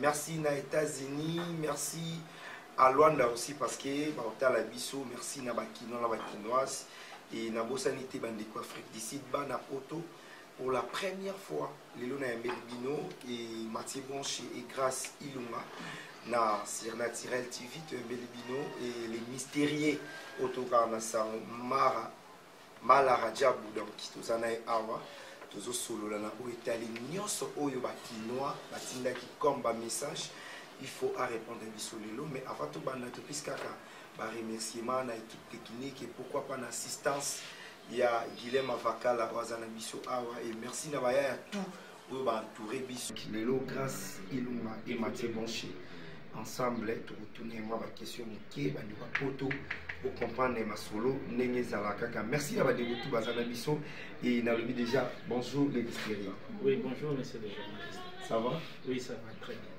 merci na états-unis merci à luanda aussi parce que baotala biso merci na bakinois na bakinoise e nabosani te bandeko afrique du sud bana poto pour la première fois lelo na yambeli bino e matie bonche e grace ilunga na surnaturel tv toyambeli bino e le mystérieux oyo tokaka na sango mara mala rajabu donc toza na ye awa tozosolola na oyo etali nyonso oyo bakinois batindaki comme bamessage il faut arépondre biso lelo mais avant tobanda topesi kaka baremerciement na équipe technique et pourquoi pas na assistance ya guilem avakala oyo aza na biso awa et merci na baya ya tout oyo ba entouré biso lelo grâce ilunga et matie bonche ensemble tokotuna mwa bakestion moke bandeko ya poto okomprendre masolo ndenge ezala kaka merci ya bandeko tu baza na biso e nalobi déjà bonjour le disteri oui bonjour monsieur le journaliste ça va oui ça va très bien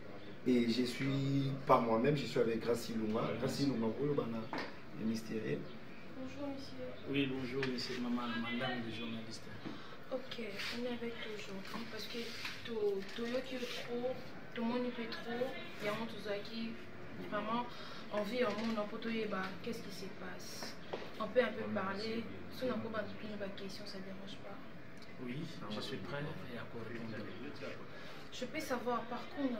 et je suis pas moi-même je suis avec grâce ilunga grâce ilunga oyo bana le mystérieux bonjour monsieur oui bonjour monsieur maman madame le journaliste Ok, on est avec toi aujourd'hui parce que toyoki yo trop, tomoni mpe trop, yango tozalaki vraiment envie ya omona mpo toyeba qu'est-ce qui se passe. On peut un peu parler, so na koba topini baquestion, ça dérange pas. Oui, je suis prêt et à quoi répondre. Je peux savoir par contre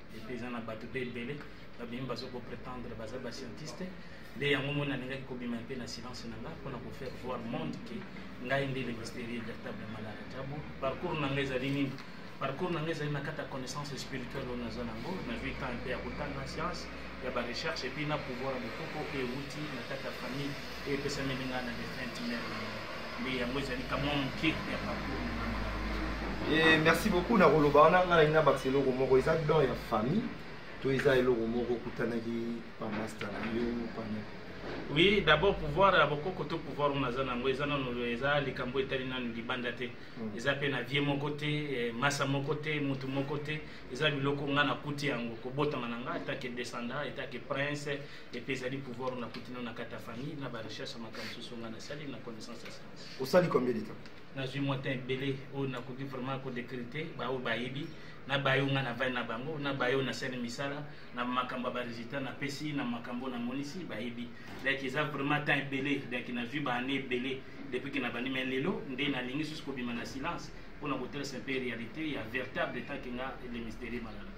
epuis eza na bato mpe ebele babimi bazo kopretendre baza bascientiste nde yango moni nalingaki kobima mpe na silence na ngai mpona kofaire voir monde ke ngai nde le mysterieux véritable malala jabu parcours na ngai ezali nini parcours na ngai ezali na kati ya connaissance spirituelle oyo naza nango na vie temps mpe ya kotanga science ya barecherche epuis na pouvoir ya bokoko oyo euti na kati ya famille oyo epesameli ngai na defunte mère na ngai nde yango ezali kamwa moke ya parcours na ngai Eh, merci beaucoup na koloba wana ngai nalingi nabakisa eloko moko eza don ya famille to eza eloko moko okutanaki pamasta na yo pana oui d'abord pouvoir ya bokoko to pouvoir oyo naza nango eza nano eza likambo etali nano libanda te Mm. eza mpe na vie moko te eh, masa moko te motu moko te eza biloko ngai nakuti yango kobotama na ngai etake descendant etake prince epe ezali pouvoir na kuti na kati ya famille na barecherche ya makambo mosusu ngai nasali na connaissance ya science osali combien de temps nazwi mwa temps ebele oyo nakoki vraiment kodécrire te baoyo bayebi na bayo ngai navandi na bango na bayo nasali misala na makambo ya baresultat napesi na makambo namonisi bayebi donc eza vraiment temps ebele donc nazwi baannée ebele depuis ke nabandi mai lelo nde nalingi susu kobima na silence mpona kotalisa mpe réalité ya véritable etanke nga le mystérieux malala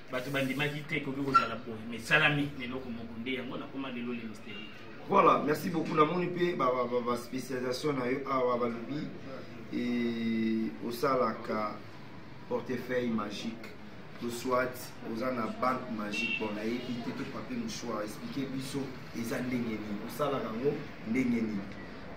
bato bandimaki te ekoki kozala boye mais esalami na eloko moko nde yango nakoma lelo lelo steli voilà merci beaucoup namoni mpe baspécialisation na yo awa balobi e, osalaka portefeuille magique to soit oza na banque magique bon nayebi te to papier mouchoir explike biso eza ndenge nini osalaka yango ndenge nini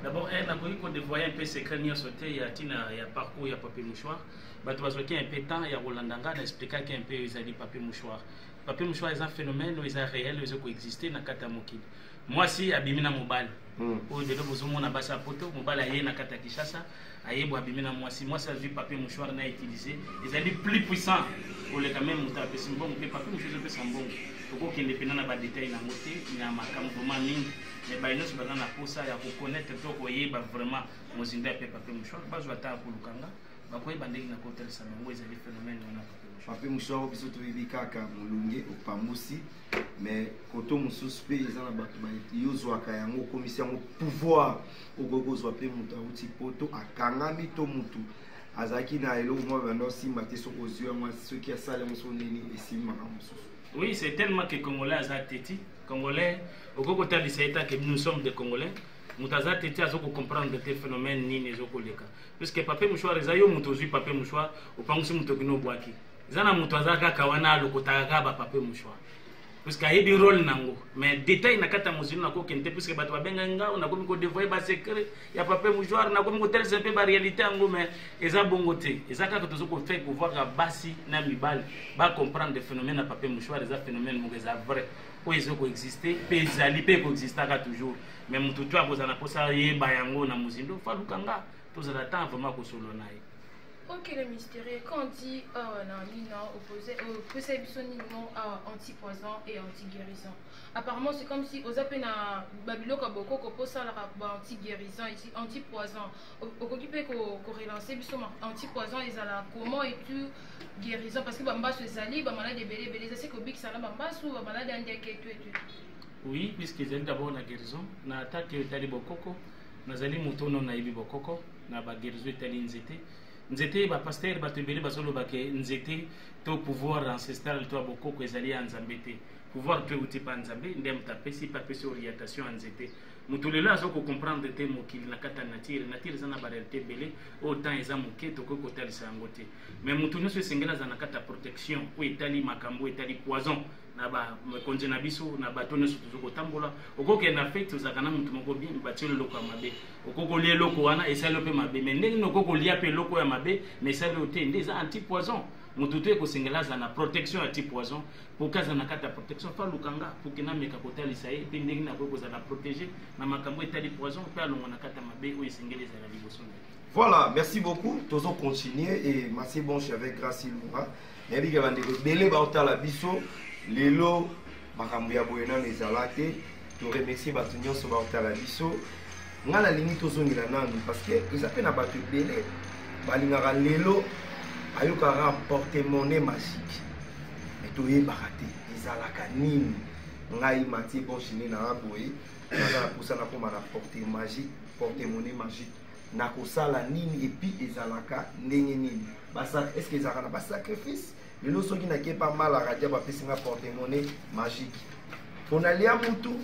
d'abord eh, nakoki kodevoye mpe secret nyonso te ya ntina ya parcours ya papier mouchoir bato bazwaki un peu temps ya kolanda ngai na explikaki un peu oyo ezali papier mouchoir papier mouchoir eza phénomène oyo eza réel oyo eza koexiste na kati ya mokili mwasi abimi na mobali hmm. oyo lelo bozomona basi ya poto mobali aye na kati ya kinshasa aye bo abimi na mwasi mwasi azwi papier mouchoir na utilise ezali plus puissant koleka meme moto apesi mbongo mpe papier mouchoir ezopesa mbongo tokokende mpena na badetail na yango te na makambo vraimen mingi me baye nyonso baza na mposa ya koconnaître to koyeba vraiment mozindo ya mpe papier mouchoir bazwa ata ya kolukanga bakoyeba ndenge na kotalisa bango ezali phénomène wana pape moshoaro biso toyebi kaka molunge opambusi mais koto mosusu mpe eza na bato yozwaka yango okomisi yango pouvoir okoki kozwa mpe moto awuti poto akangami to motu azalaki na eloko mwa banda osimba te soki ozwi yango soki asali yango soki nini esimbi makambo mosusu oui c'est tellement que congolais aza teti congolais okoki kotalisa ye tanke nous sommes des congolais moto aza teti aza kocomprendre te phénomène nini ezokoleka puisque papier mouchoir eza yo moto ozwi papier mouchoir opangusi moto kino obwaki eza na moto aza kaka wana alokotaka kaka ba papier mouchoir puisque ayebi role nango mais détail na kati ya mozili nakokende te puisque bato babenga ngao nakomi kodevoye basecret ya papier mouchoir nakomi kotalisa mpe baréalité yango mais eza bongo te eza kaka tozo kofai kovoaka basi na mibali bacomprendre de phénomène ya papier mouchoir eza phénomène moko eza vrai oyo ezo koexiste mpe ezali mpe ekoexistaka toujours me moto to akozala na mposa yeba yango na mozindo faluka nga tozala temps vraiment kosolo na ye ok le mystérieux quand on dit awa na nina opose opesa biso nini mo awa anti poison et anti guérison apparemment c'est comme si oza mpe na babiloko ya bokoko mpo osalaka ba anti guérison esi anti poison okoki mpe korelance biso anti poison ezala comment et tout guérison parce que bambasu ezali bamaladi ebele ebele eza se kobikisa na bambasu bamaladi ya ndeke etu etu Oui, puisque ezali d'abord na guérison, na attaque etali bokoko, nazali moto ono nayebi bokoko, na ba guérison etali nzete. Nzete ba pasteur bato ebele bazoloba ke nzete to pouvoir ancestral to ya bokoko ezali ya Nzambe te. Pouvoir to euti pa Nzambe nde moto apesi pe apesi orientation ya nzete. Moto lelo azo ko comprendre te mokili na kati ya nature. Nature eza na ba réalité ebele oyo temps eza moke tokoki kotalisa yango te. Mais moto nyonso esengeli aza na kati ya protection oyo etali makambo oyo etali poison. na bakonzi na biso na bato nyonso tozo kotambola okokende na fete ozalaka na moto moko bien batioli eloko ya mabe okoki kolia eloko wana esali yo mpe mabe mai ndenge nini okoki kolia mpe eloko ya mabe mai esali yo te nde eza anti poison moto to ekosengela azala na protection ya ti poison poki azala na kati ya protection fa lukanga poki nameka kotalisa ye mpe ndenge nini akoki kozala protege na makambo etali poison mpe alongwa na kati ya mabe oyo esengeli ezala liboso na ye voilà merci beaucoup tozo continuer et merci bonche avec grace ilunga nayebi ke bandeko ebele baotala biso lelo makambo ya boye nano ezala te toremercie bato nyonso baotala biso ngai nalingi tozongela nanu parce que eza mpe na bato ebele balingaka lelo ayokaka portemone magique me toyebaka te ezalaka nini ngai matie bonchine na aboye naza na mposa nakoma na porte magique portemone magique nakosala nini epi ezalaka ndenge nini est ce que ezalaka na basacrifice lelo soki nakepa mala radia bapesi nga portemone magique mpo nalia mutu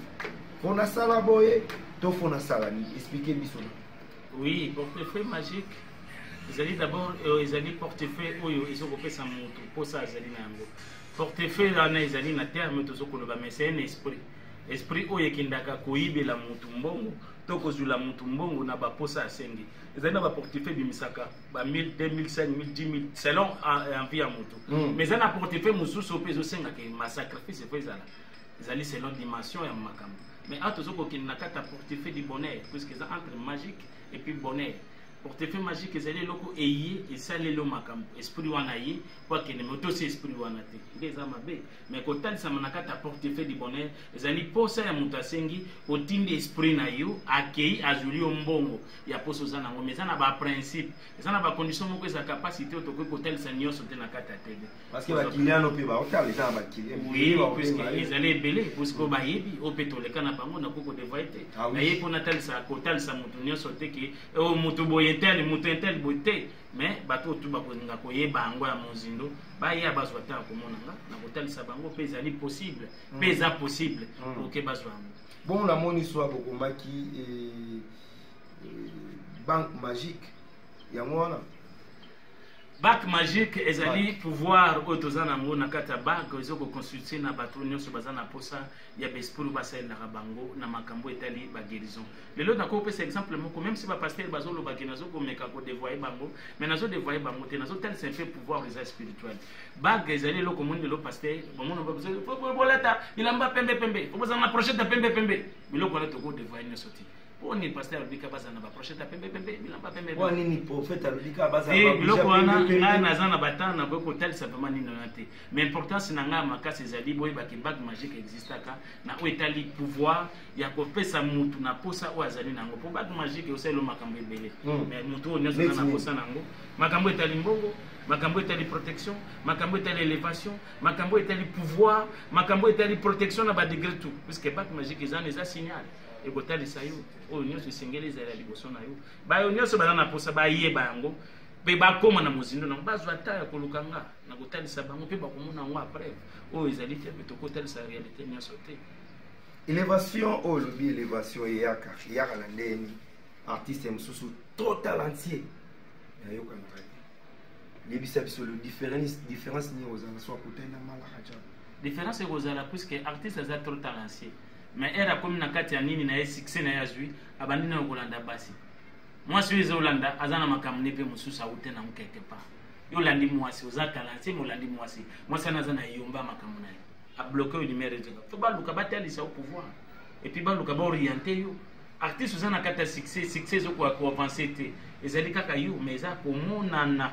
mpo nasala boye to mpo nasala nini explike biso oui portefeuille magique ezali d'abord euh, ezali portefeuille oyo ezokopesa motu mposa azali na yango portefeuille wana ezali na terme tozokoloba mais c'est un esprit esprit oyo ekendaka koyibela motu mbongo to kozwila motu mbongo na baposa asengi ezali na baportefeuille ebimisaka ba 1000 2000 5000 10000 selon envie ya motu hmm. mais eza na portefeuille mosusu mpe ezosengaka masacrifice efo ezala ezali selon dimension ya makambo mais awa tozo kokende na kati ya portefeuille du bonheur puisque eza entre magique et puis bonheur portefeuille magique ezali eloko eye esaleli yo makambo esprit wana ye mpo akende me otosi esprit wana te nde eza mabe me kotalisama na kati ya portefeuille du bonheur ezali mposa ya moto asengi otindi esprit na yo akei azwili yo mbongo ya poso oza nango mais eza na baprincipe eza na bacondition moko eza capacité oyo tokoki kotalisa nyonso te na kati ya tebe ezali ebele puisque oyo bayebi oyo mpe toleka na bango nakoki kodevoye te ah naye mpo natalisa kotalisa motu nyonso te ke oyo oh, motu boye tel motu intel boye te mais bato oyo tu bakolinga koyeba yango ya mozindo baya bazwa ntango komona nga na kotalisa bango mpe ezali possible mpe mm. eza possible mm. oke bazwa yango bongo namoni swa bokomaki eh, banque magique yango wana bac magique ezali pouvoir oyo toza na yango na kati ya bac eza koconstitue na bato nyonso baza na mposa ya baesprit basalelaka bango na makambo etali baguérison lelo nakoki kopesa exemple moko meme si bapaster bazolobaki nazo komeka kodevoye bango mais nazo devoye bango te nazotalisa mpe pouvoir eza spirituel bague ezali eloko moni lelo paster bamonobolata bilamba pembe pembe obozala na prochete ya pembe pembe biloko wana tokodevoye nyonso te mpo nini paster alobi kaka bazala na baprochete ya pembe pembe bilamba pembe mpo nini profete alobi kaka bazala eh, biloko wana ngai naza na batemp nakoki kotalisa vraimen nini wana te mais importance na ngai ya makasi ezali boyebaki bague magique existaka na oyo etali pouvoir ya kopesa mutu na posa oyo azali na yango mpo bague magique osalelo makambo ebele hmm. mais motu oyo nyonso na posa na yango makambo etali mbongo makambo etali protection makambo etali élévation makambo etali pouvoir makambo etali protection na badegre tout puisque bague magique eza na eza signal ekotalisa yo oyo nyonso esengeli ezala liboso na yo bayo nyonso baza na mposa bayeba yango mpe bakóma na mozindo nango bazwa ta ya koluka nga na kotalisa bango mpe bakomona yango après oyo ezali te mpe tokotalisa réalité nyonso te elevation oyo olobi elevation eyaka eyaka na ndenge nini artiste mosusu trop talentier nayokanaka te yebisa biso le différence différence nini ozala soit kotenda malaka ja différence ekozala puisque artiste aza trop talentier mais ere akomi na kati ya nini na ye succès na ye azwi abandi nayo kolanda basi mwasi oyo ezolanda aza na makambo nde mpe mosusu awute nango quelque part yo olandi mwasi oza talanse ma olandi mwasi mwasi wana aza na eyomba makambo na ye abloke oyo limere ezoka fo baluka batalisa yo pouvoir epuis baluka baoriente yo artiste oza na kati ya succès succès ezokoka koavance te ezali kaka yo mais eza komonana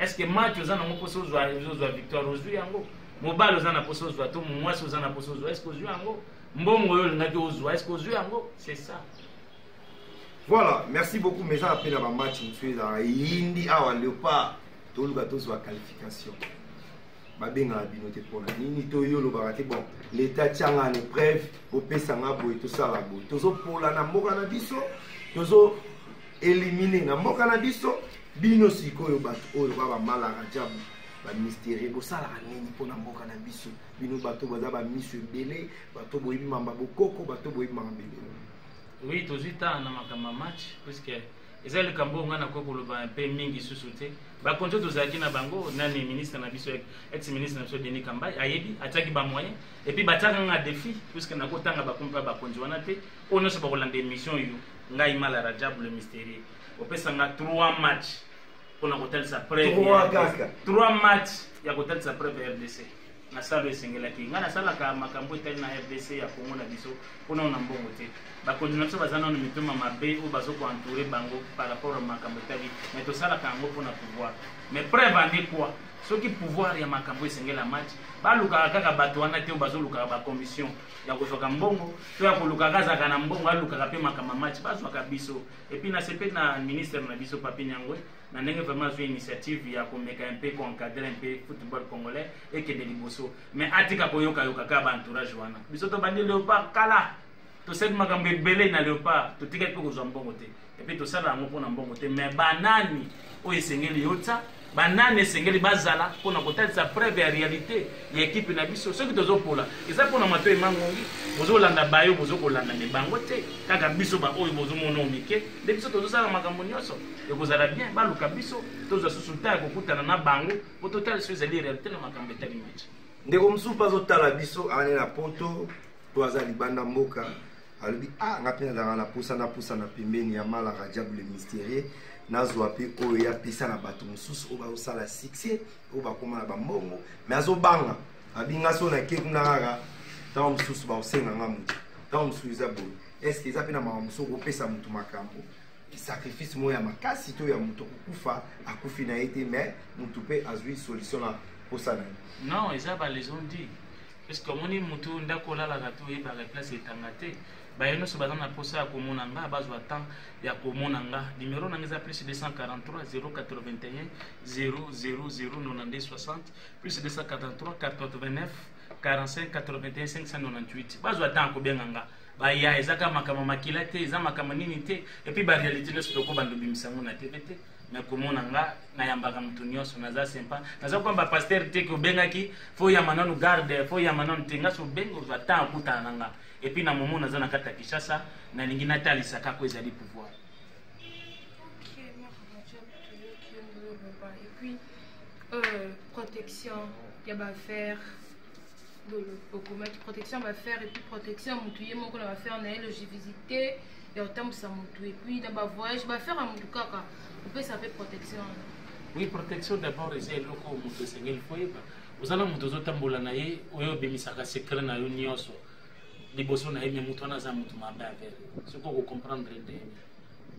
est ce que match oza nango mposa ozwa ozwa victoire ozwi yango mobali oza na mposa ozwa to mwasi oza na mposa ozwa est ce que ozwi yango mbongo oyo olingaki ozwa est ce que ozwi yango c'est ça voilà merci beaucoup mais eza mpe na bamatch mosusu ezalaka eyindi awa leopard toluka tozwa qualification babengaka bino te mpona nini to yo olobaka te bon leta atyanga na épreuve bopesa nga boye tosala boye tozopolana mboka na biso tozo elimine na mboka na biso bino sikoyo bato oyo ba bamalaka jabu bamystere bosalaka nini mpo na mboka na biso bino bato baza bamiso ebele bato boyebi mamba bokoko bato boyebi mamba ebele oui tozwi ntango na makambo ya match puiske eza likambo oyo ngai nakoki koloba mpe mingi susu te bakonzi oyo tozalaki na bango nani ministre na biso ex ministre na biso denis kambai ayebi atiaki bamoyen epuis batiaka nga defi puiske nakotanga bakomi mpe bakonzi wana te oyo nyonso bakolanda émission yo ngai mala rajab le mysterieux opesa nga 3 match mpona kotalisa preuve 3 kaka 3 match ya kotalisa preuve ya rdc na salo esengelaki ngai nasalaka makambo etali na rdc ya kongo na biso mpona na mbongo te bakonzi na biso baza nano mitoma mabe oyo bazo koentoure bango par rapport ya makambo etali mai tosalaka yango mpona pouvoir mais preuve ande quoi soki pouvoir ya makambo esengela match balukaka kaka bato wana te oyo bazolukaka bacommission ya kozwaka mbongo to ya kolukaka azalaka na mbongo alukaka mpe makambo ya match bazwaka biso epuis nasepeli na ministre na biso papi nyangwe na ndenge vraiment azwi initiative ya komeka mpe koencadre mpe football congolais ekende liboso mais atika koyokayoka kaka baentourage wana biso tobandi leopard kala tosali makambo ebele na leopard totikaki mpe kozwa mbongo te epe tosala yango mpo na mbongo te me banani oyo esengeli yotya banani esengeli bazala mpo na kotalisa preuve ya réalité ya ekipe na biso soki tozopola eza mpo na matoi mangongi bozolanda bayo bozokolanda me bango te kaka biso baoyo bozomonao mike nde biso tozosala makambo nyonso ekozala bien baluka biso tozwa susu ntan ya kokutana na bango mpo totalisa ezali réalité na makambo etali match ndeko mosusu mpe azotala biso ane na poto to aza libanda mboka alobi a ah, nga mpe nazalaka na pusa na pusa na pembeni ya mala rajab le mysterieux nazwa mpe oyo ye apesa na bato mosusu oyo bazosala succès oyo bakoma na bambongo mais azobanga abinga so nake kuna kaka ntango mosusu bakosenga nga moto ntango mosusu eza boye estce eza mpe na makambo mosusu okopesa moto makambo sacrifice moko ya makasi to ya moto kokufa akufi na ye te mais moto mpe azwi solution na mposa na ye non eza balaison dit puisque omoni mutu ndako olalaka te oyebaka place etanga te baye nyonso baza na mposa ya komona nga bazwa temps ya komona nga numero nanga eza plus 243 081 0009260 plus 243 489 45 81 598 bazwa temps ya kobenga nga baya eza kaka makambo makila te eza makambo nini te epuis barealité nyonso tokoba ndobimisa yango na tv te na komona nga nayambaka moto nyonso naza sempa naza koyamba paster te ke obengaki fo yamba nanu garde fo yamba nanu te nga so obengi ozwa temps akutana na nga epuis na momo naza na kati ya kinshasa nalingi natalisa kaka oyo ezali pouvoir euh, protection ya bafere okomaki protection ya bafere epuis protection ya motu ye moko na bafere na ye logivizite ya kotambwisa motu epuis na bavoyage bafere ya motu kaka kopesa mpe protection wana oui protection d'abord eza eloko motu esengeli koyeba oza na motu ozotambola na ye oyo obimisaka secret na yo nyonso liboso na ye me motu wana aza motu mabe avere soki okocomprendre nde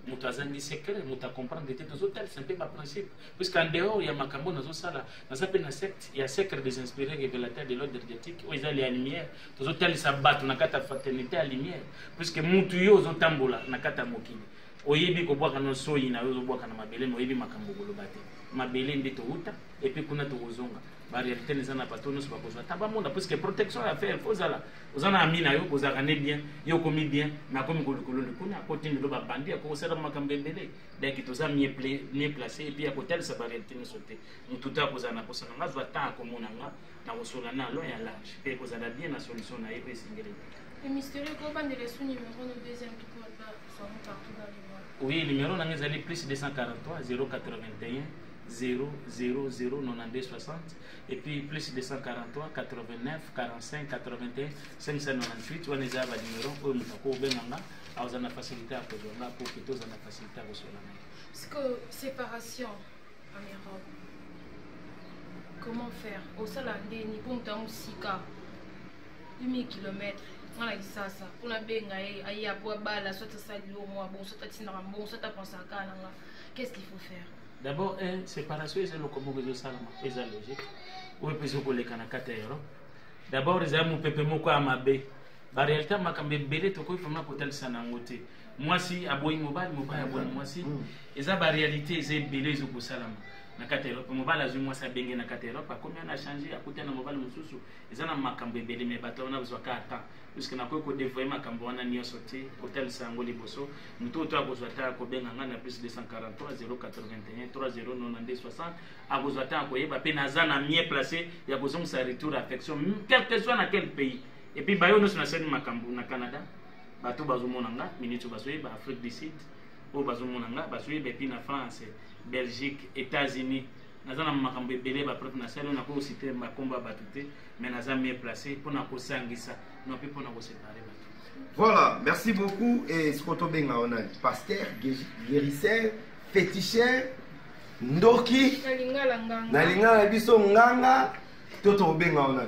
moto azangi secret moto acomprendre te tozotalisa mpe baprincipe puisque en dehors ya makambo oyo nazosala naza mpe na secte ya secret des inspirés révélateur de l'ordre dietique oyo ezali ya lumière tozotalisa bato na kati ya fraternité ya lumière puisque mutu yo ozotambola na kati ya mokili oyebi kobwaka no soyi na yo ozobwaka na mabele ma oyebi makambo koloba te mabele nde towuta epuis kuna tokozonga barealité eza na bato nyonso bakozwa ta bamona puisque protection ya fer fo ozala oza na ami na yo kozalaka ne bien yo okomi bien me akomi kolikolo likuna akotindelo babandi akokosala makambo ebele donc toza mieux place epuis ya kotalisa barealité nyonso te motu te akozala na mposa na nga azwa temps akomona nga na kosola na long ya large mpe ekozala bien na solution na ye oyo esengeli oui numéro nanga ezali plus 243 081 009260 et puis plus 243 89 45 81 598 wana eza ba numéro oyo moto akobenga nga akozala na facilité ya kozwa nga po kete ozala na facilité ya koswela ngai sikoyo séparation en europe comment faire osala ndeni mpo moto ya mosika 1000 kilomètre nga na kisasa mpo nabenga ye aya mpo abala soit asali yo mwa bon soit atindaka mbongo soit apensaka kaka na nga qu'est ce qu'il faut faire d'abord eh, séparation eza eloko moko ezosalama eza logique oyo mpe ezokoleka na kati ya europe d'abord eza mopepe moko ya mabe ba realite makambo ebele tokoki vraiment kotalisa na yango te mwasi aboyi mobali mobali aboyi mwasi mm. eza ba realite eza ebele ezo kosalama na kati ya erope mobali azwi mwasi abenge na kati ya erope akomi ana change akuta na mobali mosusu eza na makambo ebele me bato wana bazwaka ata puiske nakoki kodevoye makambo wana nyonso te kotalisa yango liboso moto oyo to akozwa ata akobenga ngai na plus 243 081 3092 60 akozwa ata akoyeba mpe naza na mie place ya kozongisa retour affection quelque soit na quel pays Et puis bayo nous na sali makambu na Canada. Bato bazo mona nga, minute bazo yeba Afrique du Sud. Oyo bazo mona nga, bazo yeba puis na France, Belgique, États-Unis. naza na makambo ebele bapreuve nasali oyo nakoki kosite makombo ya bato te mais naza mieux place mpo na kosangisa no mpe mpo na kosepare bato voilà merci beaucoup e siko tobenga wana pasteur guérisseur féticheur ndoki na lingala na biso nganga to tokobenga wana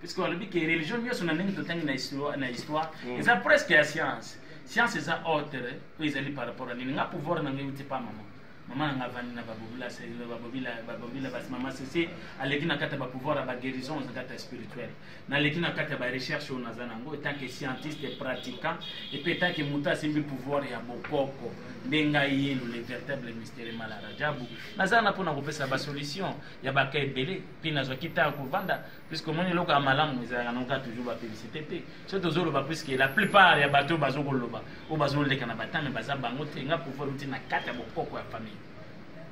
puisque balobi ke religion nyonso na ndenge totangi na histoire, na histoire mm. eza presque ya science science eza autre oyo ezali par rapport ya nini nga pouvoir na ngai euti pa mama mama na nga avandi na babobila babobila babobila basi mama sese aleki na kati ya bapouvoir ya baguérison na kati ya spirituel naleki na kati ya barecherche oyo naza na yango etanke scientiste pratiquant epe etanke moto asimbi pouvoir ya bokoko nde ngai yenu le véritable mystere malarajabu naza na mpo na kopesa basolution ya baka ebele mpe nazwaki ntango kovanda puisque omoni eloko ya malamu ezalaka noka toujours bapublicité te so tozoloba puisque la plupart ya bato oyo bazokoloba oyo bazoleka na batame baza bango te nga pouvoir euti na kati ya bokoko ya famille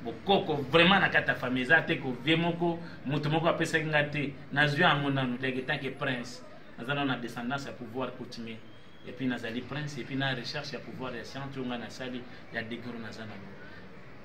bokoko vraiment na kati ya famille eza te kovie moko moto moko apesaki nga te nazwi yango nanu leke tanke prince naza nano na descendance ya pouvoir coutumier epuis nazali prince epuis na recherche ya pouvoir ya science oyo ngai nasali ya degro naza nango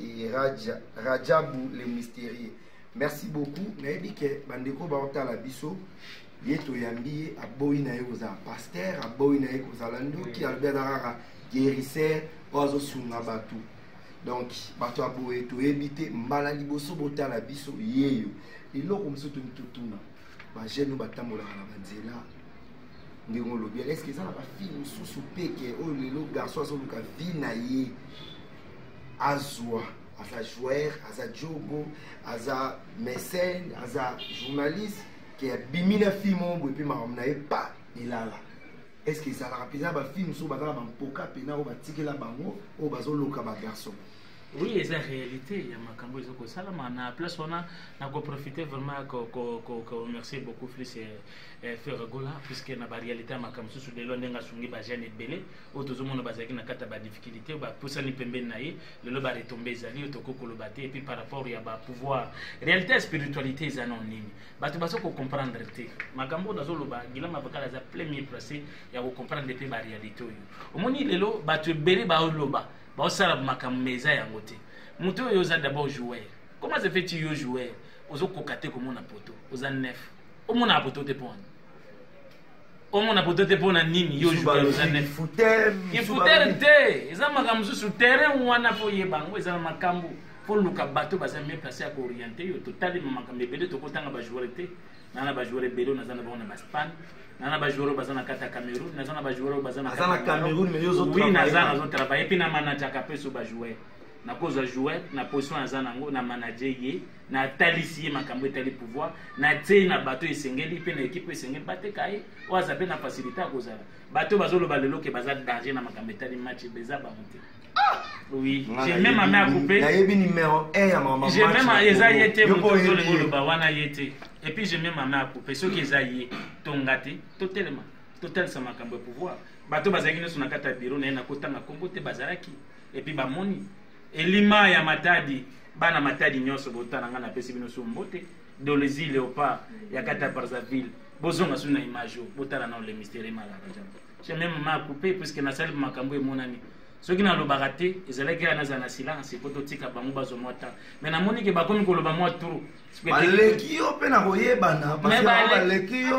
et Raja, Rajabu le mystérieux. Merci beaucoup. Nayebi ke bandeko baotala biso ye toyambi ye aboyi na ye kozala pasteur aboyi na ye kozala ndoki alobi aza kaka guérisseur oyo azosunga bato donc bato ya boye toyebi te mbala liboso botala biso yeyo eloko mosusu toni totuna bajeune oyo batambolaka na banzela ndenge olobi eske eza na bafille mosusu peke oyo lelo garçon azoluka vie na ye azwa aza joueur aza jogo aza mécène aza journaliste ke abimi na film oyo boye mpe makambo na ye pa elala est ce que ezalaka mpenza bafilme so baza na bampoka mpena oyo batikela bango oyo bazoloka bagarçon oui eza réalité ya makambo eza kosalama na place wana nakoprofite vraiment komercier beaucoup plus eh, eh, ferregola puisque na baréalité ya makambo mosusu lelo ndenge asungi bajeune ebele oyo tozomona bazalaki na kati ya badifficulté oyo bapusani pembeni na ye lelo baretombe ezali oyo tokoki koloba te epuis par rapport ya bapouvoir réalité ya spiritualité eza nao nini bato baza kocomprendre te makambo oyo nazoloba gilama bakal aza premier place ya kocomprendre mpe baréalité oyo omoni lelo bato ebele baoloba baosala makambo ma eza yango te moto oyo oza d'abord joueur comment se fait tu yo joueur ozokoka te komona poto oza nef omonaka poto te mpo wana omona poto te mpo na nini yo ifutere te eza makambo mosusu terrain wana mpo oyeba yango eza na makambo mpo luka bato baza mie place ya kooriente yo totalima makambo ebele tokotanga bajoueur te naa na bajoueur ebele oyo naza na bango na baspagne naa na bajoueur oyo baza na kati ya cameroun naza na bajoueur oyo baza nawi naza nazotravaille mpe na manajaka mpe so bajoueur nakozwa joueur na position aza nango na manage ye natalisi ye makambo etali pouvoir natieyi na bato esengeli mpe na ekipe esengeli bateka ye oyo aza mpe na facilité ya kozala bato bazoloba lelo ke baza danger na makambo etali match eza bango te ah! oui j'ai même ame akupe nayebi numero 1 ya mama j'ai même eza ye te moto ozolinga oloba wana ye te et puis j'ai même ame akupe soki eza ye tonga te totelema totalisa makambo ya pouvoir bato bazalaki nyonso na kati ya biro na ye nakotanga nkombo te bazalaki et puis bamoni elima ya matadi bana matadi nyonso botana ngai napesi bino su mbote dolezi leopard ya kata brazzaville bozonga su na image oyo botala nao le mystere malaka jambo je meme ma coupe puiske nasali makambo emonani soki nalobaka te ezalaki ya nazala na silence po totika bango bazwa mwa temps me namoni ke bakomi koloba mwa turu baleki yo mpe na koyebana baleki yo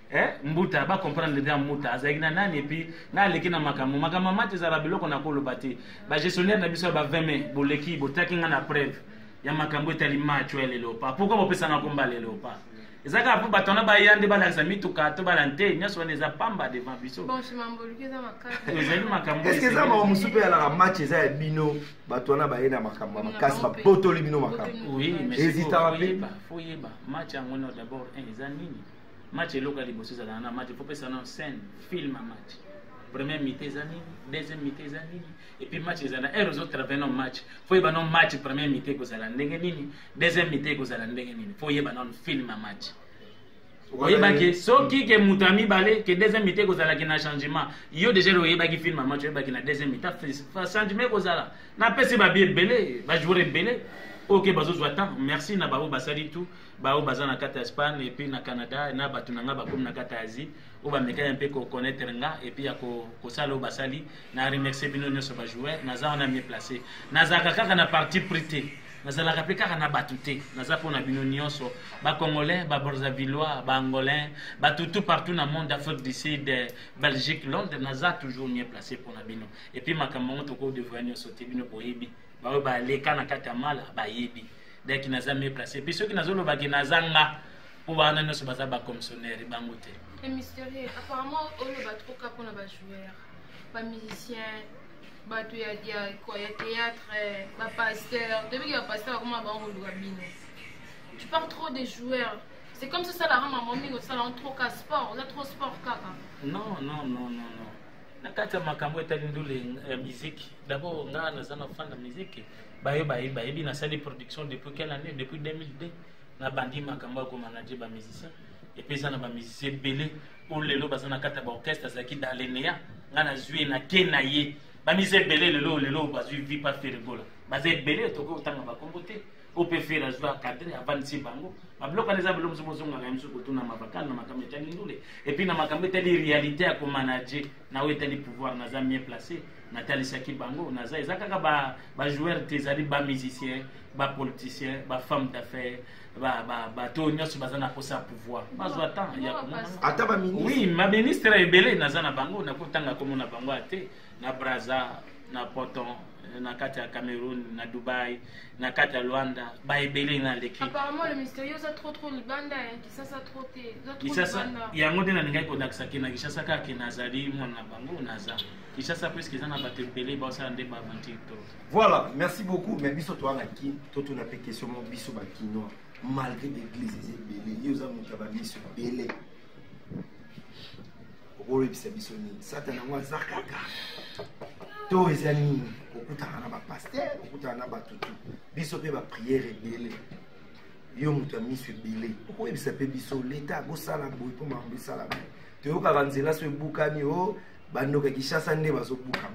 eh, mbuta ba comprendre bien mbuta azalaki na nani epuis na aleki na makambo makambo ya mati ezala biloko na koloba te bagestionnaire na biso ya ba 20 mai boleki botaki ngai na preuve ya makambo etali match ya lelo pa pourkui bopesanga komba lelo pa eza kaka mpo bato wana baya nde balakisa mituka to bala nte nyonso wana eza pamba devant biso ezali makambo eske eza mawa mosusu mpe yalaka match eza ya bino bato wana baye na makambo ya makasi babotoli bino makambo ezitaka mpe foyeba match yango no d'abord eza nini match eloko ya liboso ezalaka na match faut pesa na scène film ya match première mité eza nini deuxième mité eza nini epuis match ezala heure ozo travaille no match fo yeba no match première mité ekozala ndenge nini deuxième mité ekozala ndenge nini fo yeba nano film ya match oyebaki soki ke moto ya mibale ke deuxième mité ekozalaki na changement yo déjà oyebaki film ya match oyebaki na deuxième mité changement ekozala napesi babi ebele bajour ebele oyo ke bazozwa temps merci na baoyo basali tout baoyo baza na kati ya espagne epuis na canada na bato na ngai bakomi na kati ya asie oyo bamekani mpe koconaitre nga epuis ya kosala oyo basali na remercie bino nyonso bajoueur naza wana mie place nazalaka kaka na parti pris te nazalaka mpe kaka na bato te naza mpo na bino nyonso bacongolais baborzavillois baangolais bato tout partout na monde afrique du sud belgique londres naza toujours mie place mpo na bino epuis makambo yango tokodevoya nyonso te bino boyebi baoyo baleka na kati ya mala bayebi deki naza mieux place epuis soki nazoloba ke naza nga mpo wana nyonso baza bacommissionnaire bango te mysterieux apparemment oyo bato koka mpona bajoueur bamusicien bato ya théâtre bapasteur toyebi ke bapasteur bakoma bango koluka bino tu parles trop des joueurs c'est comme sosalaka mama mingi osalaka trop ka sport oza trop sport kaka non non non non non na kati ya makambo etali ndule ya miziki dabord ngaa naza na fan ya miziki bayo baye bayebi nasali production depuis quelle année depuis 2002 nabandi makambo ya komanage bamusicien epe eza na bamusicien ebele oyo lelo baza na kati ya baorchestre azalaki dalenea ngai nazwi ye nake na ye bamisa ebele lelo lelo bazwi vi pa ferigola baza ebele tokoki kotanga bakombo te oyo mpe fere azwi akadre avandisi bango babiloko wana eza bilo mosusu mozongaka ye mosusu kotuna mabakale na makambo etali ndule epuis na makambo etali réalité ya komanage na oyo etali pouvoir naza mieux place natalisaki bango naza eza kaka bajoueur ba te ezali bamusicien bapoliticien bafemme d'affaire bato oyo nyonso baza na mposa ya pouvoir bazwa temps ya komonaata oui baministre ebele naza na bango nakotanga komona bango ya te na braza na poton na kati ya cameroun na dubai na kati ya luanda baebele na leki kisasa yango nde nalingaki kolakisa ke na kisasa kaka nazali mwana na bango naza kisasa puiske eza na bato ebele baosala nde baaventure to voilà merci beaucoup mais biso towana kin totuna mpe question mo biso bakinois malgré l'église eza ebele yo oza moto ya bamiso ebele okoyebisa biso nini satana yango aza kaka to eza nini okutana na bapaster okutana na bato tu biso mpe bapriere ebele yo moto ya miso ebele okoyebisa mpe biso leta akosala boye mpo makambo esala boye toyokaka nzela so ebukani o oh, bandoka kishasa nde bazobuka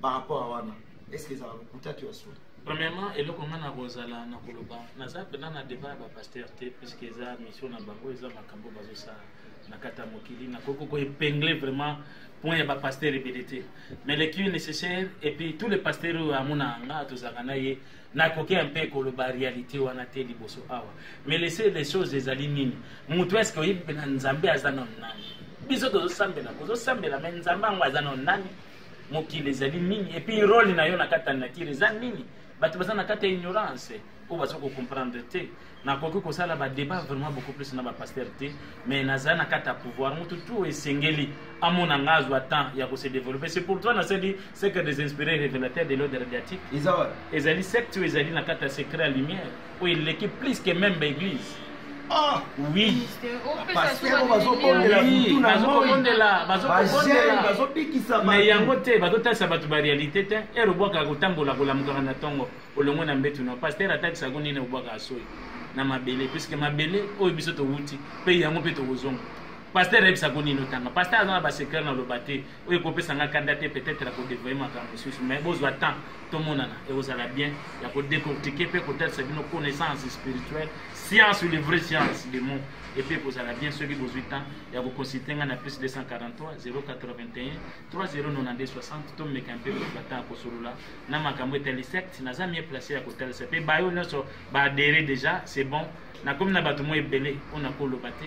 par rapport a wana est ce que ezala lokuta to ya solo Premièrement, eloko nga na kozala na koloba naza mpena na debat ya bapaster te puisque eza mission na bango eza makambo bazosala na kati ya mokili nakoki koepengle vraiment point ya bapaster ebele te mais le qui est nécessaire et puis tous les paster oyo amonaka nga tozalaka na ye nakoki mpe koloba réalité wana te liboso awa mais lese les choses ezali nini moto eske oyebi mpena nzambe aza na nani biso tozosambela kozosambela me nzambe yango aza na nani mokili ezali nini epuis role na yo na kati ya nature eza nini bato baza na kati ya ignorance oyo baza kocomprendre te nakoki kosala badebat vraiment beaucoup plus na bapaster te mais naza na kati ya pouvoir motu tu esengeli amona nga azwa temps ya kose développer c'est pour toi nasali secret des inspiré révélateur de l'ode radiatique ezali secte oyo ezali na kati ya secret ya lumière oyo eleki plus que membe eglise ah! mais yango te bazotalisa bato barealité te ere obwakaka kotambola kolamukaka na ntongo olongo na mbetu na paster atakisako nini obwakaka soyi na mabele puiske mabele oyo biso towuti mpe yango mpe tokozonga paster ayebisako nini otanga paster aza na basecret na loba te oyo ekopesa nga kanda te peut-être ya kodevoye makambo mosusu mais bozwa temps tomonana ekozala bien ya kodecortike mpe kotalisa bino connaissance spirituelle science ou le vrai science de mot epe ekozala bien soki bozwi temps ya koconsulte nga na plus 243 081 309260 tomeka mpe kozwa temps ya kosolola na makambo etali secte naza mie place ya kotalisa mpe bayo nyonso baadere déjà c'est bon nakomi na bato mwa ebele oyo nakoloba te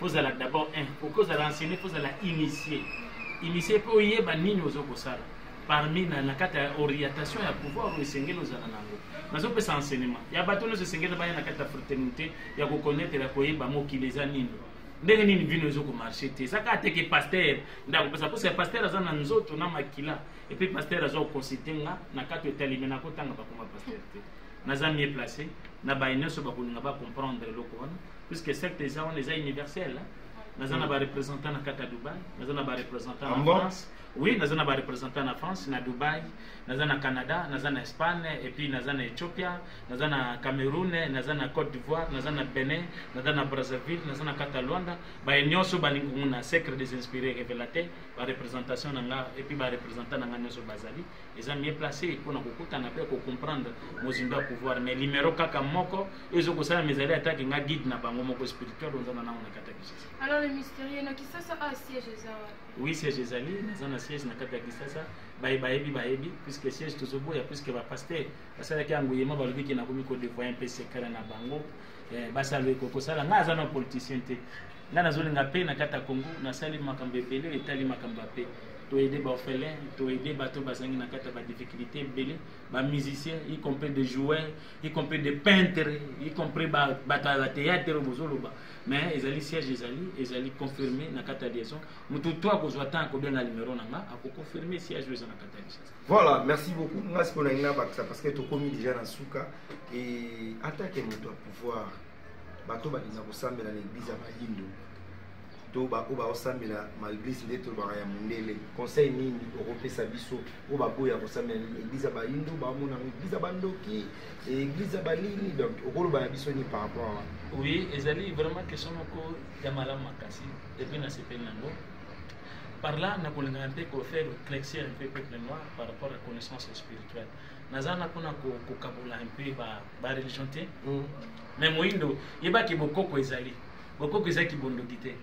kozala d'abord un okoki kozala enseigné kozala initie initie mpe oyeba nini ozo kosala parmi na, na kati ya orientation ya pouvoir oyo esengeli ozala na yango nazopesa enseignement ya bato nyonso esengeli baya na kati ya fraternité ya kokonetre ya koyeba mokili eza nini ndenge nini vino ezo komarche te eza kaka teke paster nde akopesa mposa ya paster aza na nzoto na makila epuis paster aza kokonsulte nga na kati otalime nakotanga bakoma paster te naza mieux placé na baye nyonso bakolinga bacomprendre eloko wana puisque secte eza wana eza universel naza na barepresentant na kati ya dubai naza na barepresentant na france oui naza na barepresentant na france na dubai naza na canada naza na espagne epuis naza na ethiopia naza na cameroun naza na côte d'ivoire naza na benin naza na brazzaville naza na kati ya luanda baye nyonso balingi komona secret des inspiré révélateur bareprésentation na nga epuis barepresentant na nga nyonso bazali eza mieux placé mpo na kokutana mpe kocomprendre mozindo ya pouvoir mais limero kaka moko ezo kosala mizali atake nga guide na bango moko spirituel oza na nango na kati ya kisasa alors le mystérieux na kisasa a ah, siège eza oui siège ezali naza na siège na kati ya kisasa baye bayebi bayebi puisque siège tozoboya puisque bapaster basalaki yango yema balobi ke nakomi kodevoye mpe sekala na bango eh, basala kosala ngai aza na politicien te ngai nazolinga mpe na kati ya congo nasali makambo ebele oyo etali makambo ya mpe toyede baorphelin toyede bato bazangi na kati ya badifficulté ebele bamusicien y compris de joueur y compris de peintre y compris bato ya bateatre bozoloba mais ezali siège ezali ezali confirme na kati ya liaison moto to akozwa temps akobenga numero na nga akoconfirme siège oyo eza na kati ya liaison voilà merci beaucoup nga sikoyo nalingi nabakisa parce que tokomi déjà na suka e atake moto ya pouvoir bato balinga kosambela na eglize ya bayindo to baoyo baosambela ma eglize nde tolobaka ya mondele conseil nini okopesa biso oyo baboya kosambela na eglize ya bayindo baomona yango eglize ya bandoki eglize ya balini donc okoloba na biso nini par rapport wana oui ezali vraiment question moko ya malamu makasi epuis nasepeli yango par là nakolingaka mpe kofaire clexir mpe peuple noir par rapport ya connaissance spirituelle naza na mpona kokabola un peu bareligion te mm. me moyindo yebaki bokoko ezali bokoko ezali kibondoki te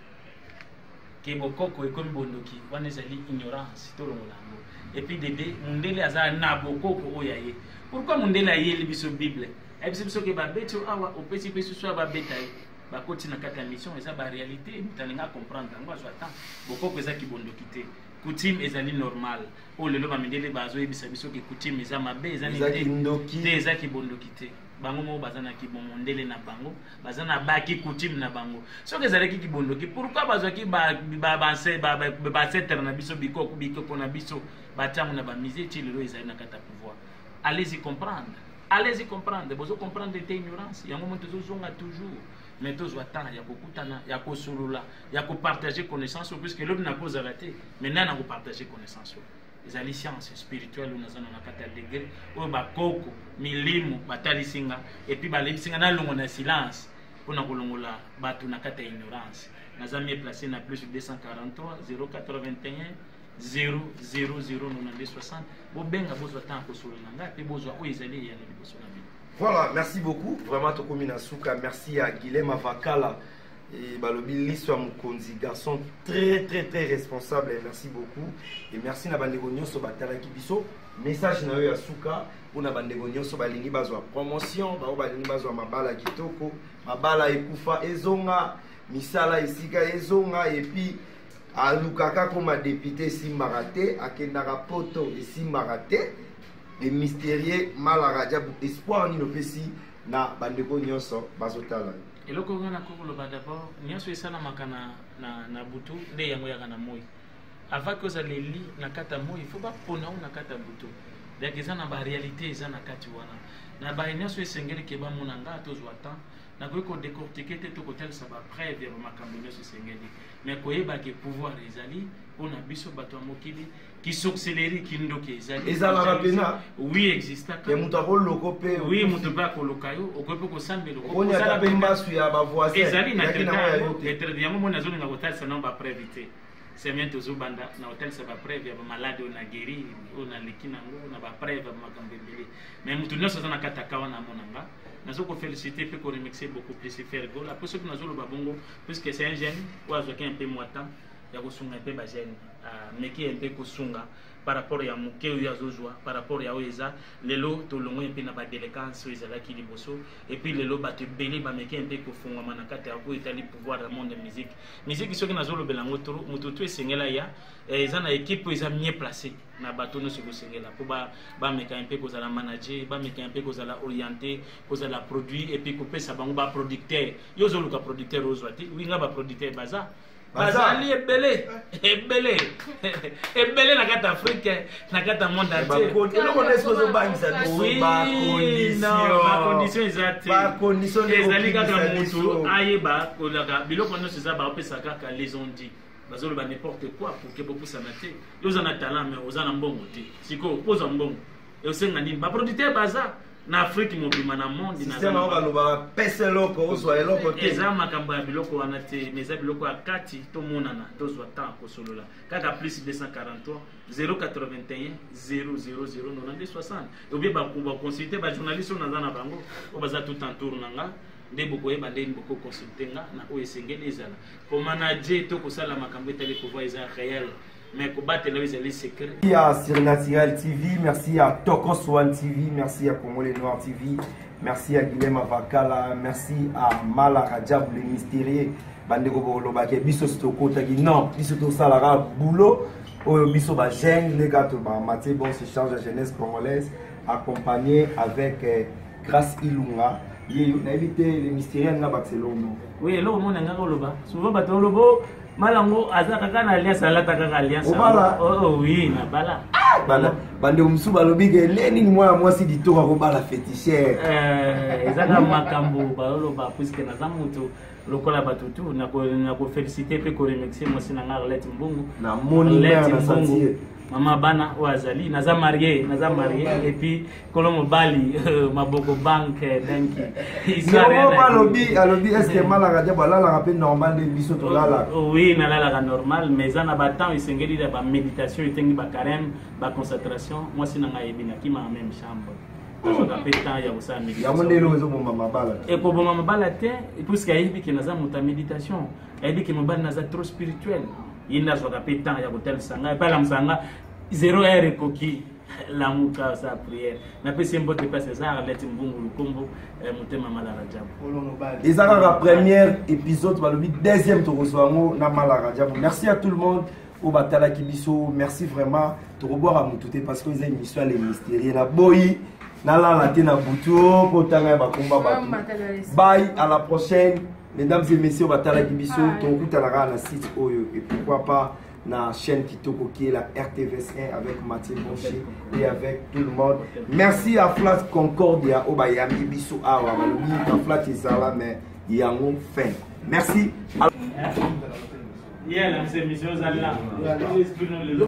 ke bokoko ekomi bondoki wana ezali ignorance tolongola yango epuis dede mundele aza na bokoko oyo aye pourkui mundele ayeli biso bible ayebisi biso ke babeti oyo awa opesi mpe susu ya babeta ye bakoti na kati ya mission eza barealité moto alinga comprendre yango azwa temps bokoko eza kibondoki te coutume ezali normale oyo oh, lelo bamindele bazoyebisa biso ke coutume eza mabe eza ndoki te eza kibondoki te bango moko baza na kibomondele na bango baza na baki coutume na bango soki ezalaki kibondoki pourkui bazwaki baancetre na biso bikoko bikoko na biso batiango na bamise ti lelo ezali na kati ya pouvoir allez y comprendre allez y comprendre bozo comprendre te ignorance yango mo tozozonga toujours mais tozwa temps ya kokutana ya kosolola ya ko partager connaissance puisque lobi na kozala te mais nana ko partager connaissance ezali science spirituelle oyo naza na kati ya degre oyo bakoko milimo batalisi nga epuis balebisi nga nalongo na silence mpo na kolongola bato na kati ya ignorance naza mie place na plus 243 081 0000 bobenga bozwa ntango kosolo na ngai mpe bozwa oyo ezali eyano liboso na bino voilà merci beaucoup vraiment tokomi na suka merci ya guilem avakala Et balobi liso ya mokonzi garçon très très très responsable et merci beaucoup et merci na bandeko nyonso batalaki biso message na yo ya suka mpo na bandeko nyonso balingi bazwa promotion bango balingi bazwa mabala kitoko mabala ekufa ezonga misala esika ezonga epuis alukaka koma depute esimbaka te akendaka poto esimbaka te le mysterieux malarajabu espoir nini opesi na bandeko nyonso bazotala yo eloko oyo na kokoloba dabord nyonso esalamaka na, na, na butu nde yango yaka na moi avant que ozala eli na kati ya moi fo bapona o na kati ya butu donc eza na baréalité eza na kati wana na baye nyonso esengeli ke bamona nga tozwa temps nakoki kodecortike te tokotalisa bapreuve ya bamakambo nyonso esengeli mais koyeba ke pouvoir ezali mpo na biso bato ya mokili Qui sorcellerie qui ndoki ezali ezalaka pena oui exista ya moto akoloko mpe oui moto mpe akoloka yo okoki mpe kosambela okosala mpe mbasu ya bavoisin ezali na traite yango moni azolinga kotalisa nango bapreuve te semaine tozobanda na kotalisa bapreuve ya bamaladi oyo na geri oyo naleki nango na bapreuve ya makambo ebele mais moto nyonso aza na kati ya kawa na monanga nazo kofelicite mpe koremixe beaucoup plus fergola mpo soki nazoloba bongo puisque c'est un jeune oyo azwaki un peu mwa temps ya kosunga mpe bajeune ameki ah, mpe kosunga par rapport ya moke oyo azozwa par rapport ya oyo eza lelo tolongwe mpe na badelecance oyo ezalaki liboso epuis lelo bato ebele bameki mpe kofungwama na kati ya oyo etali pouvoir ya monde ya musique musique soki nazolobela yango tro moto tu esengela ya eh, eza na équipe oyo eza mieux placé na bato nyonso ekosengela mpo bameka mpe kozala manager bameka mpe kozala orienté kozala produit epuis kopesa bango baproducteur yo ozoluka producteur ozwa te wi nga baproducteur baza bazali ebele ebele ebele na kati afrike na kati ya monde entierbacondition eza te ezali kaka motu ayeba kolaka biloko nyonso eza baopesa kaka les ont dit bazoloba n'importe quoi pour ke bopusana te yo oza na talent mais oza na mbongo te sikoyo ozwa mbongo esenga nini baproducteur baza na afrique mobima na monde sistema oyo balobaka pesa eloko ozwa eloko te eza makambo ya biloko wana te ma eza biloko ya kati tomonana tozwa temps kosolola kaka plus 243 081 000 obie baconsulte bajournaliste oyo naza na bango oyo baza tout en tour na nga nde bokoyeba ndeni bokoconsulte nga na oyo esengeli ezala komanage to kosala makambo etali pouvoir eza réel mais kobatela yo ezali secret ya surnaturel tv merci ya tokos one tv merci ya congolais noir tv merci ya guilhem avakala merci a mala rajab le mystérieux bandeko bokolobaka biso sitokotaki non biso tosalaka boulot oyo biso bajeune nde kaka tobamati bon se change ya jeunesse congolaise accompagné avec eh, grace ilunga ye nayebi te le mystérieux nga bakisa eloko moko oui eloko mona nga koloba souvent bato olobo mala ngo aza kaka na alliance alata kaka alliance obala oh, oh, oui na bala ah, bala bande mosusu balobi ke le nini mwana mwasi ditoko akobala fetichere eh, eza kaka makambo baloloba puiske naza moto lokola bato tu nakofelicite mpe koremercie mwasi na ngai arlete mbungu na moni mbungu mama bana oyo azali naza marie naza marie epuis kolo mobali maboko banke danki yehova alobi alobi eske malaka te balalaka mpe normal nde biso tolalaka oh, oh, oui nalalaka normal mais eza na batemp esengeli ya baméditation etengi bacareme baconcentration mwasi na ngai ebinaki ma même chambre azwaka mpe temps ya kosala yango ndelo ezoboma mabala te ekoboma mabala te puiske ayebi ke naza moto ya méditation ayebi ke mobali naza trop spirituel ye nde azwaka mpe temps ya kotalisa ngai epai alamusa nga zero heure ekoki lamuka sa prière napesi ye mbote place eza arlete mbungu lukombo eh, motema malara jabu eza kaka première épisode balobi deuxième tokozwa yango na malara jabu merci à tout le monde oyo batalaki biso merci vraiment tokobwaka motu te parce que eza émission ya le mystérie na boyi nalala te na butu oh, mpo tanga ya bakomba bato bye à la prochaine mesdames et messieurs batalaki biso tokokutana kaka na site oyo et pourquoi pas na chaîne Kitoko qui est la RTVS1 avec Mathieu Bonchi et avec tout le monde. Merci à Flat Concordia au Bayami Bissou Awa, Malobi, à Flat Isala, mais Yango Fin. Merci. Yeah, la mission,